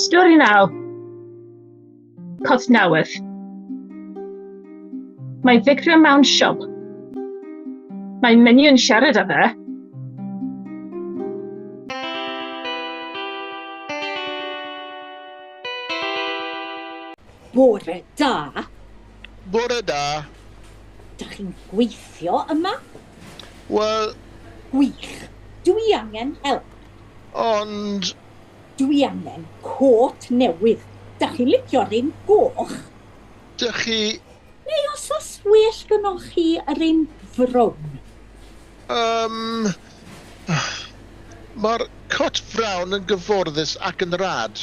Stori 9. Cosnewydd. Mae Victor mewn siop. Mae Minnie yn siarad â fe. Bore da! Bore da. Dach chi'n gweithio yma? Wel... Gwych. Dw i angen help. Ond... Dw i angen côt newydd. Dach chi'n licio'r un goch? Dych chi... Neu os oes well gynnoch chi yr un frown? Yym... Mae'r cot frown yn gyfforddus ac yn rad.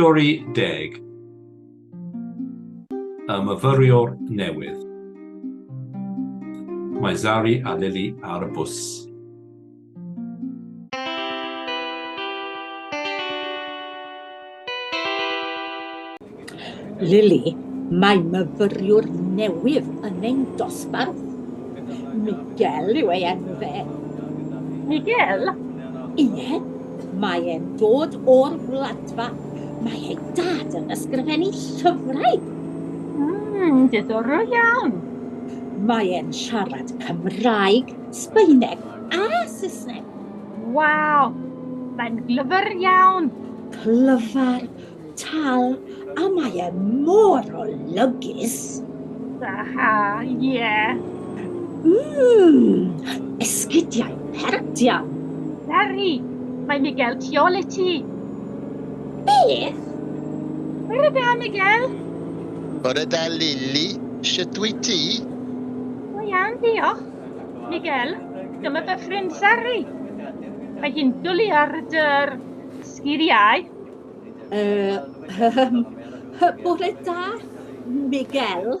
Stori deg y myfyriwr newydd. Mae Zari a Lily ar y bws. Lili, Mae myfyriwr newydd yn ein dosbarth. Miguel yw ei enw fe. Miguel? Ie, mae e'n dod o'r Wladfa. Mae ei dad yn ysgrifennu llyfrau. Mmm, diddorol iawn. Mae e'n siarad Cymraeg, Sbaeneg a Saesneg. Waw! Mae'n glyfr iawn! Clyfar, tal, a mae e mor olygus! Aha, ie. Yeah. Mmm, esgidiau pert iawn! Sari, mae Miguel tu ôl i ti! Beth? Bore da, Miguel! Bore da, Lili. Sut wyt ti? Go iawn, diolch. Miguel, dyma dy ffrind Sari. Mae hi'n dwlu ar dy'r sgiliau. Ehm, bore da, Miguel.